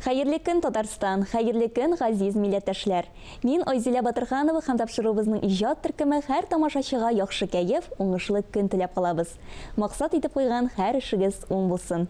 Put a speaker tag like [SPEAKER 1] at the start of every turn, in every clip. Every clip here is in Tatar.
[SPEAKER 1] Хәерле көн, Татарстан! Хәерле көн, газиз милләттәшләр! Мин Айзилә Батырханова һәм тапшыруыбызның иҗат төркеме һәр тамашачыга яхшы кәеф, уңышлы көн теләп калабыз. Максат итеп куйган һәр эшегез уң булсын!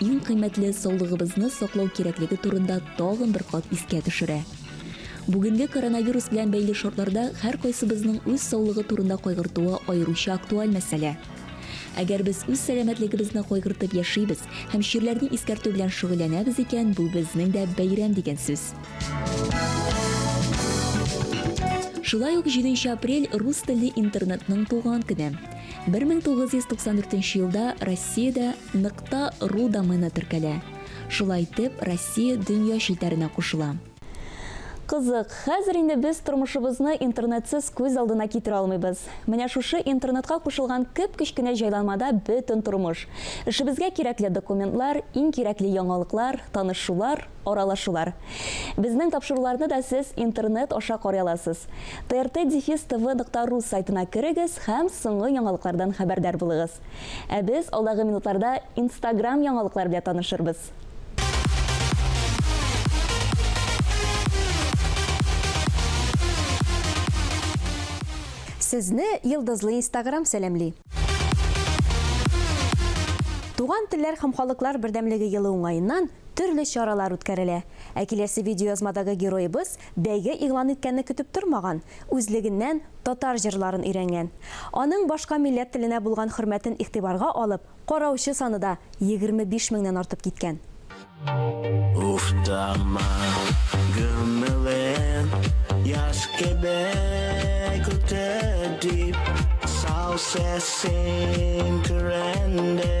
[SPEAKER 1] иң кыйммәтле саулыгыбызны саклау кирәклеге турында тагын бер кат искә төшерә. Бүгенге коронавирус белән бәйле шартларда һәркайсыбызның үз саулыгы турында кайгыртуы аеруча актуаль мәсьәлә. Әгәр без үз сәламәтлегебезне кайгыртып яшибез һәм чирләрне искәртү белән шөгыльләнәбез икән, бу безнең дә бәйрәм дигән сүз. Шулай ук 7 апрель рус телле интернетның туган көне. 1994 елда Россиядә Ныкта ру домены теркәлә. Шулай итеп, Россия дөнья челтәренә кушыла. Кызык, хәзер инде без тормышыбызны интернетсыз күз алдына китерә алмыйбыз. Менә шушы интернетка кушылган кеп-кечкенә җайланмада бөтен тормыш. Эшебезгә кирәкле документлар, иң кирәкле яңалыклар, танышулар. Аралашулар. Безнең тапшыруларны да сез интернет аша карый аласыз. TRT-TV нокта ру сайтына керегез һәм соңгы яңалыклардан хәбәрдар булыгыз. Ә без алдагы минутларда Instagram яңалыклар белән танышырбыз. Сезне Йолдызлы Инстаграм сәламли! Туган телләр һәм халыклар бердәмлеге елы уңаеннан Төрле чаралар үткәрелә. Ә киләсе видеоязмадагы героебыз бәйге игълан иткәнне көтеп тормаган, үзлегеннән татар җырларын өйрәнгән. Аның башка милләт теленә булган хөрмәтен игътибарга алып, караучы саны да егерме биш меңнән артып киткән. Уфтанма,
[SPEAKER 2] күңелем яз кебек үтә дип, сау сәсең күренде.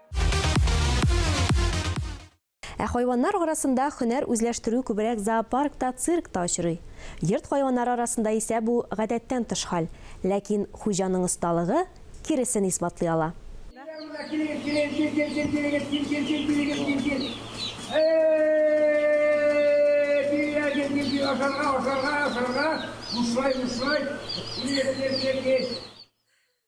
[SPEAKER 1] Ә хайваннар арасында хөнәр үзләштерү күбрәк зоопаркта, циркта очрый. Йорт хайваннары арасында исә бу гадәттән тыш хәл. Ләкин хуҗаның осталыгы киресен исбатлый ала.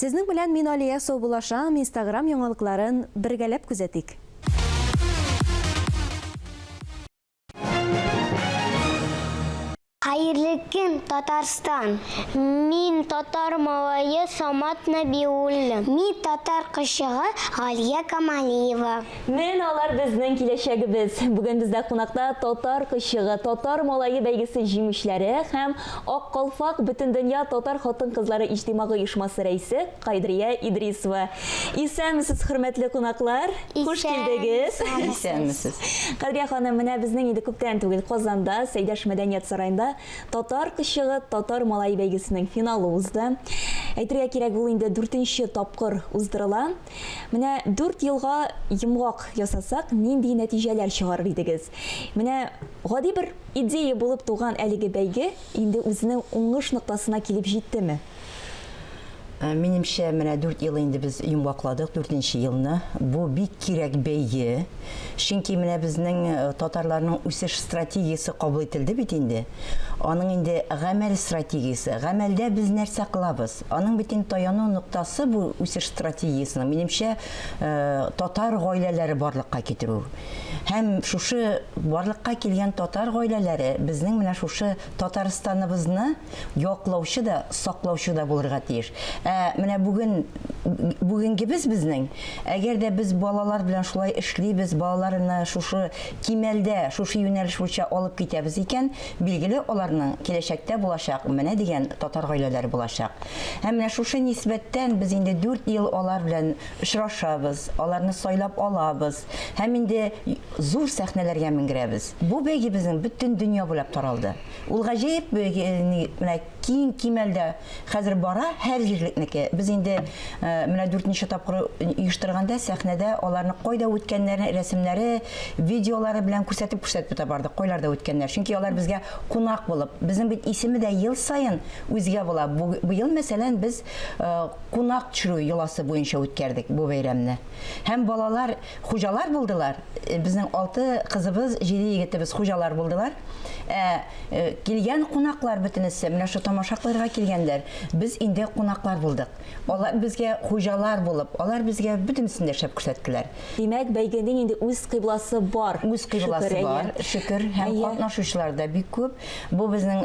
[SPEAKER 1] Сезнең белән мин Алия саубуллашам, инстаграм яңалыкларын бергәләп күзәтик.
[SPEAKER 3] Хәерле көн, Татарстан! Мин татар малае Самат Нәбиуллин. Мин татар кошчыгы Галия Камалиева. Менә алар
[SPEAKER 1] безнең киләчәгебез. Бүген бездә кунакта Татар коччыгы, Татар малае бәйгесе җиңүчеләре һәм Ак калфак Бөтендөнья татар хатын-кызлары иҗтимагый оешмасы рәисе Кайдрия Идрисова. Исәнмесез, хөрмәтле кунаклар! Хуш килдегез! Исәнмесез!
[SPEAKER 4] Кайдрия ханым,
[SPEAKER 1] менә безнең инде күптән түгел Казанда, Сәйдәш мәдәният сараенда Татар коччыгы, Татар малае бәйгесенең финалы узды. Әйтергә кирәк, ул инде дүртенче тапкыр уздырыла. Менә дүрт елга йомгак ясасак, нинди нәтиҗәләр чыгарыр идегез? Менә гади бер идея булып туган әлеге бәйге инде үзенең уңыш ноктасына килеп җиттеме? Э, минемчә,
[SPEAKER 4] менә дүрт ел инде без йомгакладык, дүртенче елны. Бу бик кирәк бәйге. Чөнки менә безнең э, татарларның үсеш стратегиясе кабул ителде бит инде. Аның инде гамәл стратегиясе. Гамәлдә без нәрсә кылабыз? Аның бит инде таяну ноктасы бу үсеш стратегиясенең, минемчә, э, татар гаиләләре барлыкка китерү. Һәм шушы барлыкка килгән татар гаиләләре безнең менә шушы Татарстаныбызны яклаучы да, саклаучы да булырга тиеш. Ә менә бүген бүгенгебез безнең, әгәр дә без балалар белән шулай эшлибез, балаларны шушы кимәлдә, шушы юнәлеш буенча алып китәбез икән, Билгеле, аларның киләчәктә булачак менә дигән татар гаиләләре булачак. Һәм менә шушы нисбәттән без инде дүрт ел алар белән очрашабыз, аларны сайлап алабыз һәм инде зур сәхнәләргә менгерәбез. Бу бәйге безнең бөтен дөнья буйлап таралды. Ул гаҗәеп бәйге, менә, киң кимәлдә хәзер бара һәр җирлекнеке. Без инде э, менә дүртенче тапкыр оештырганда сәхнәдә аларның кайда үткәннәрен рәсемнәре, видеолары белән күрсәтеп күрсәтеп тә бардык, кайларда үткәннәр. Чөнки алар безгә кунак булып, безнең бит исеме дә ел саен үзгә була. Быел, мәсәлән, без э, кунак төшерү йоласы буенча үткәрдек бу бәйрәмне. Һәм балалар Хуҗалар булдылар. Безнең алты кызыбыз, җиде егетебез хуҗалар булдылар. Ә килгән кунаклар бөтенесе, менә шул тамаша кылырга килгәннәр, без инде кунаклар булдык. Алар безгә хуҗалар булып, алар безгә бөтенесен дә эшләп күрсәттеләр. Димәк, бәйгенең
[SPEAKER 1] инде үз кыйбласы бар. Үз кыйбласы бар,
[SPEAKER 4] шөкер. Һәм катнашучылар да бик күп. Бу безнең,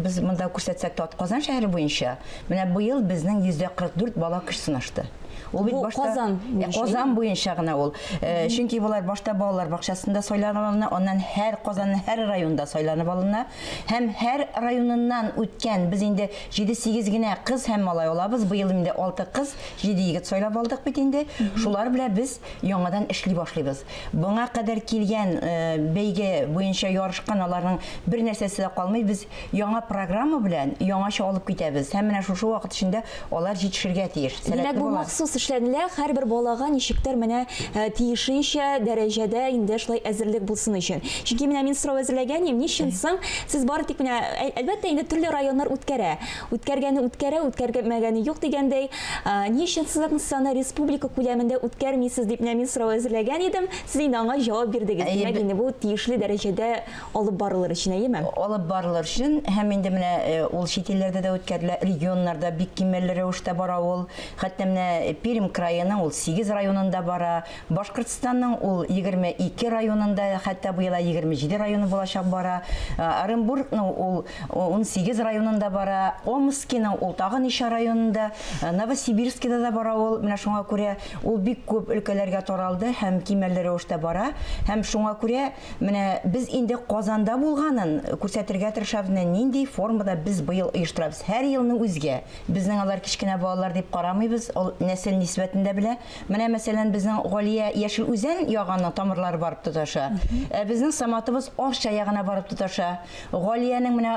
[SPEAKER 4] без монда күрсәтсәк тә, атказан шәһәре буенча, менә быел безнең 144 бала көч сынашты. Ул бит башта Казан буенча. Казан буенча гына ул. Э, чөнки болар башта балалар бакчасында сайланып алына, аннан һәр Казанның һәр районында сайланып алына һәм һәр районыннан үткән без инде 7-8 генә кыз һәм малай алабыз. Быел инде 6 кыз, 7 егет сайлап алдык бит инде. Шулар белән без яңадан эшли башлыйбыз. Буңа кадәр килгән э, бәйге буенча ярышкан аларның бер нәрсәсе дә калмый. Без Яңа программа белән яңача алып китәбез һәм менә шушы вакыт эчендә алар җитешергә тиеш. Димәк, бу махсус
[SPEAKER 1] эшләнелә, һәрбер балага ничектер менә э, тиешенчә дәрәҗәдә инде шулай әзерлек булсын өчен. Чөнки менә мин сорау әзерләгән идем, ни өчен соң сез бары тик менә, ә- әлбәттә инде төрле районнар үткәрә. Үткәргәне үткәрә, үткәрмәгәне юк дигәндәй, а, ни өчен сез аны республика күләмендә үткәрмисез дип менә мин сорау әзерләгән идем, сез инде аңа җавап бирдегез. Әйе, Димәк, бе- инде бу тиешле дәрәҗәдә алып барылыр өчен, әйеме? Алып барылыр өчен
[SPEAKER 4] һәм инде менә э, ул чит илләрдә дә үткәрелә, регионнарда бик кимәлле рәвештә бара ул. Хәтта менә э, Пермь краеның ул 8 районында бара, Башкортстанның ул 22 районында, хәтта бу елда 27 районы булачак бара. Э, Оренбургның ул 18 районында бара, Омскиның ул тагы ничә районында, Новосибирскида да бара ул. Менә шуңа күрә ул бик күп өлкәләргә таралды һәм кимәлле рәвештә бара. Һәм шуңа күрә Менә без инде Казанда булганын күрсәтергә тырышабыз. Менә нинди формада без быел оештырабыз. Һәр елны үзгә. Безнең алар кечкенә балалар дип карамыйбыз, ул нәсел нисбәтен дә белә. Менә, мәсәлән, безнең Галия Яшел Үзән яганның тамырлары барып тоташа. Ә безнең Саматыбыз Арча ягына барып тоташа. Галиянең менә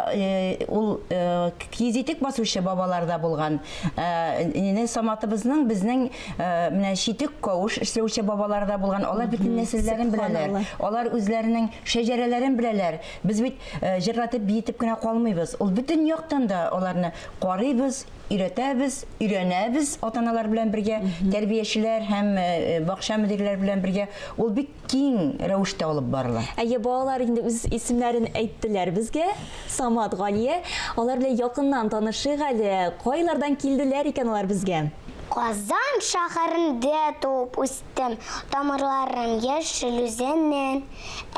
[SPEAKER 4] ул кизитек басучы бабаларда булган. Инде Саматыбызның безнең менә читек кауш эшләүче бабаларда булган. Алар бөтен нәселләрен беләләр. Алар үзләренең шәҗәрәләрен беләләр. Без бит җырлатып, биетеп кенә калмыйбыз. Ул бөтен яктан да аларны карыйбыз, өйрәтәбез, өйрәнәбез ата-аналар белән бергә, тәрбиячеләр һәм бакча мөдирләре белән бергә. Ул бик киң рәвештә алып барыла. Әйе, балалар инде үз
[SPEAKER 1] исемнәрен әйттеләр безгә. Самат, Галия, алар белән якыннан танышыйк әле. Кайлардан килделәр икән алар безгә? Казан
[SPEAKER 3] шәһәрендә туып үстем. Тамырларым Яшел Үзәннән.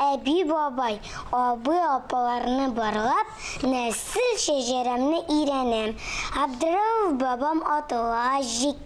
[SPEAKER 3] Әби-бабай, абый-апаларны барлап, нәсел шәҗәрәмне өйрәнәм. Габдрәүф бабам атла җик.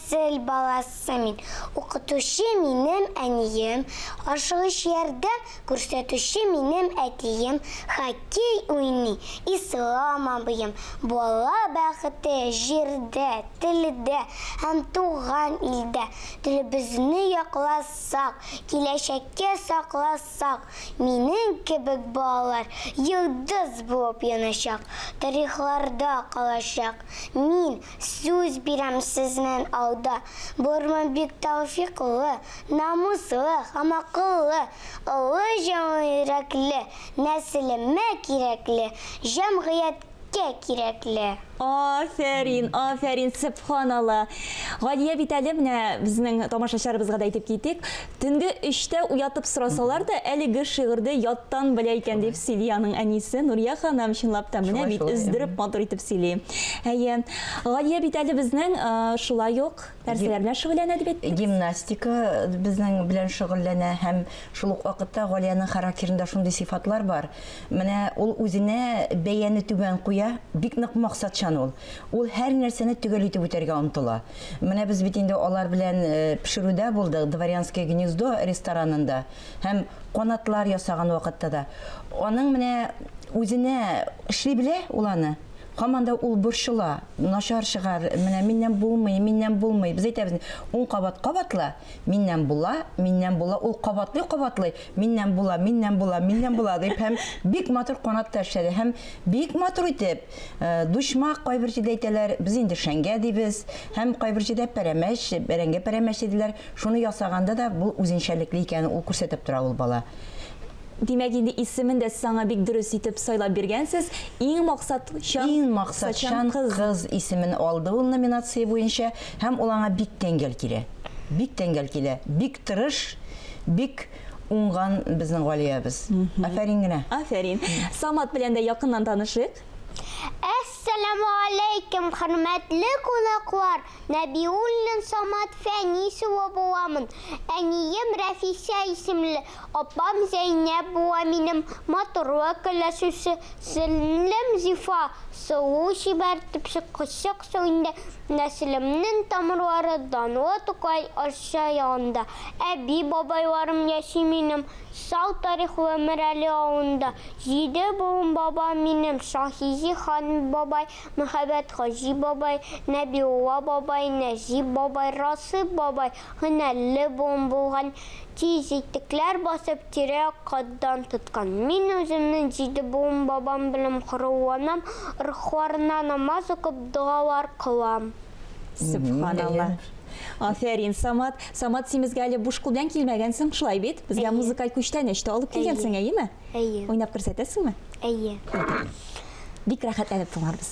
[SPEAKER 3] Сел баласы мин. Укытучы минем әнием, ашыгыч ярдәм күрсәтүче минем әтием, хоккей уйный Ислам абыем. Бала бәхете җирдә, телдә һәм туган илдә. Телебезне якласак, киләчәккә сакласак, минем кебек балалар йолдыз булып яначак, тарихларда калачак. Мин Сүз бирәм сезнен алда, Бурман бик тәүфиклы, намуслы һәм акыллы, олы җанлы йөрәкле, нәселемә кирәкле, җәмгыятькә кирәкле. Афәрин,
[SPEAKER 1] афәрин, сөбханалла! Галия бит әле, менә безнең тамашачыларыбызга да әйтеп китик, Төнге өчтә уятып сорасалар да, әлеге шигырьде яттан белә икән, дип сөйли аның әнисе Нурия ханым. Чынлап та, менә бит өздереп матур итеп сөйли. Әйе. Галия бит әле безнең шулай ук нәрсәләр белән шөгыльләнә дип әйттек? Гимнастика
[SPEAKER 4] безнең белән шөгыльләнә һәм шул ук вакытта Галиянең характерында шундый сыйфатлар бар. Менә ул үзенә бәяне түбән куя, бик нык максатчан ул. Ул һәр нәрсәне төгәл итеп үтәргә омтыла. Менә без бит инде алар белән пешерүдә булдык, Дворянское гнездо ресторанында һәм канатлар ясаган вакытта да. Аның менә үзенә эшли белә ул аны. Һаман да ул борчыла, начар чыгар, менә миннән булмый, миннән булмый. Без әйтәбез, ун кабат кабатла, миннән була, миннән була. Ул кабатлый-кабатлый, Миннән була, миннән була, миннән була дип һәм бик матур канат та эшләде һәм бик матур итеп э, дучмак кайбер җирдә әйтәләр, без инде шәңгә дибез һәм кайбер җирдә пәрәмәч, бәрәңге пәрәмәч диделәр. Шуны ясаганда да бу үзенчәлекле икәнен ул күрсәтеп тора ул бала. Димәк,
[SPEAKER 1] инде исемен дә сез аңа бик дөрес итеп сайлап биргәнсез. Иң максатчан Иң максатчан кыз
[SPEAKER 4] исемен алды ул номинация буенча һәм ул аңа бик тәңгәл килә. Бик тәңгәл килә. Бик тырыш, Бик уңган безнең Галиябез. Афәрин генә. Афәрин. Самат
[SPEAKER 1] белән дә якыннан танышыйк. Әссәламу
[SPEAKER 3] алейкум, хөрмәтле кунаклар! Нәбиуллин Самат Фәнисова буламын. Әнием Рәфисә исемле, апам Зәйнәб була минем, матурлык өләшүче, сеңлем Зифа, сылу, чибәр, төпчеккочак, Шул инде нәселемнең тамырлары данлы Тукай Арча ягында. Әби-бабайларым яши минем сау тарихлы Мөрәле авылында. Җиде буын бабам минем, Шаһиҗи хан бабай, Мөхәббәт хаҗи бабай, Нәбиулла бабай, Нәҗип бабай, Расыйп бабай, Һөнәрле буын булган, тиз итекләр басып, тирә-як кадан тоткан. Мин үземнең җиде буын бабам белән Коруанам рхуарына намаз укып, догалар кылам. Сөбханалла.
[SPEAKER 1] Афәрин, Самат. Самат, син безгә әле буш кул белән килмәгәнсең, шулай бит? Безгә музыкаль күчтәнәч тә алып килгәнсең, әйеме? Әйе. Уйнап
[SPEAKER 3] күрсәтәсеңме?
[SPEAKER 1] Әйе. Бик рәхәтләнеп тыңларбыз.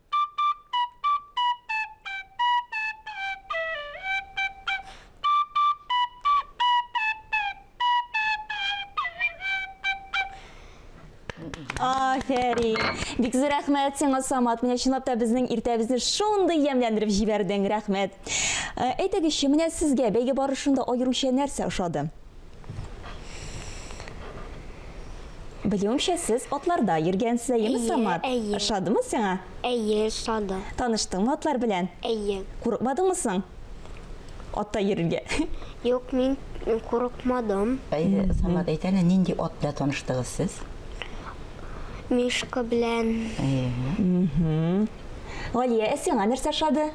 [SPEAKER 1] Афәрин. Бик зур рәхмәт сиңа Самат. Менә чынлап та безнең иртәбезне шундый ямьләндереп җибәрдең. Рәхмәт. Э, әйтегезче, менә сезгә бәйге барышында аеруча нәрсә ошады? Белүемчә, сез атларда йөргәнсез, әйеме, Әйе, Самат? әйе. Ошадымы сиңа? Әйе, сады.
[SPEAKER 3] Таныштыңмы атлар
[SPEAKER 1] белән? Әйе. Курыкмадыңмы
[SPEAKER 3] соң?
[SPEAKER 1] Атта йөрергә. Юк, мин
[SPEAKER 3] курыкмадым. Әйе, Самат,
[SPEAKER 4] әйт әле, нинди ат белән таныштыгыз сез?
[SPEAKER 3] Мишка белән.
[SPEAKER 1] Әйе. Галия, ә сиңа нәрсә ошады?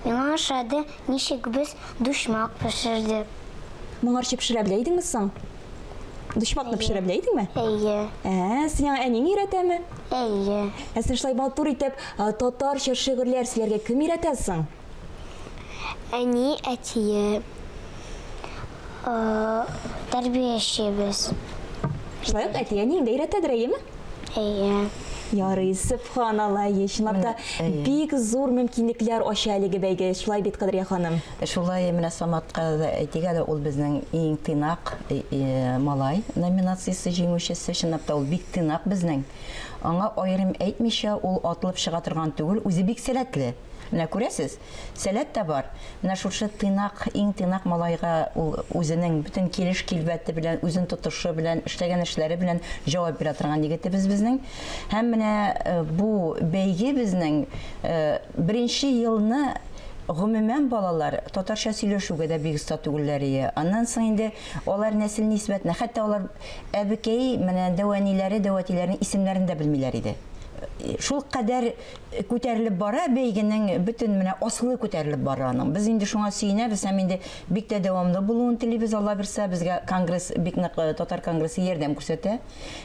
[SPEAKER 3] Миңа ошады Ничек
[SPEAKER 1] без
[SPEAKER 3] дучмак
[SPEAKER 1] пешердек? Моңарчы пешерә белә идеңме соң? Дучмакны пешерә белә идеңме? Әйе. Ә,
[SPEAKER 3] сиңа әниң
[SPEAKER 1] өйрәтәме? Әйе.
[SPEAKER 3] Ә син шулай матур
[SPEAKER 1] итеп а, татарча шигырьләр сөйләргә кем өйрәтә соң?
[SPEAKER 3] Әни, әтие. Э, Тәрбиячебез.
[SPEAKER 1] Шулай ук әти-әниең дә өйрәтәдер, әйеме?
[SPEAKER 3] Әйе. Ярый,
[SPEAKER 1] сөбханалла, әйе, чынлап та бик зур мөмкинлекләр ача әлеге бәйге, шулай бит, Кадрия ханым? Шулай, менә
[SPEAKER 4] Саматка да әйтик әле, ул безнең иң тыйнак малай номинациясе җиңүчесе, чынлап та ул бик тыйнак безнең. Аңа аерым әйтмичә, ул атылып чыга торган түгел, үзе бик сәләтле. Менә күрәсез, сәләт тә бар. Менә шушы тыйнак, иң тыйнак малайга ул үзенең бөтен килеш-килбәте белән, үзен тотышы белән, эшләгән эшләре белән җавап бирә торган егетебез безнең. Һәм менә бу бәйге безнең беренче елны гомумән балалар татарча сөйләшүгә дә бик оста түгелләр ие. Аннан соң инде алар нәсел нисбәтенә, хәтта алар әбекәй, менә дәү әниләре, дәү әтиләренең исемнәрен дә белмиләр иде. Шулкадәр күтәрелеп бара бәйгенең бөтен менә асылы күтәрелеп бара аның без инде шуңа сөенәбез һәм инде бик тә дәвамлы булуын телибез алла бирсә безгә конгресс бик нык э, татар конгрессы ярдәм күрсәтә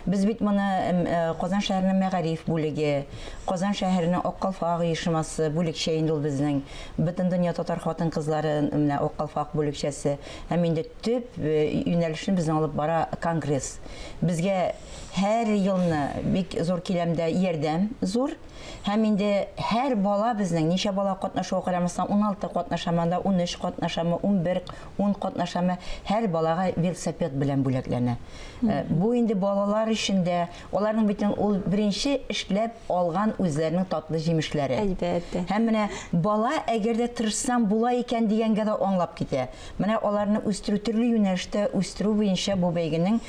[SPEAKER 4] без бит моны э, казан шәһәренең мәгариф бүлеге казан шәһәренең ак калфак оешмасы бүлекчә инде ул безнең бөтен дөнья татар хатын кызлары менә ак калфак бүлекчәсе һәм инде төп э, юнәлешне безнең алып бара конгресс безгә Һәр елны бик зур киләмдә ярдәм зур. Һәм инде һәр бала безнең, ничә бала катнашуга карамастан, 16 катнашамы анда, 13 катнашамы, 11, 10 катнашамы, һәр балага велосипед белән бүләкләнә. Э, бу инде балалар өчен дә, аларның бит ул беренче эшләп алган үзләренең татлы җимешләре. Әлбәттә. Һәм менә бала әгәр дә тырышсам була икән дигәнгә дә аңлап китә. Менә аларны үстерү төрле юнәлештә үстерү буенча бу бәйгенең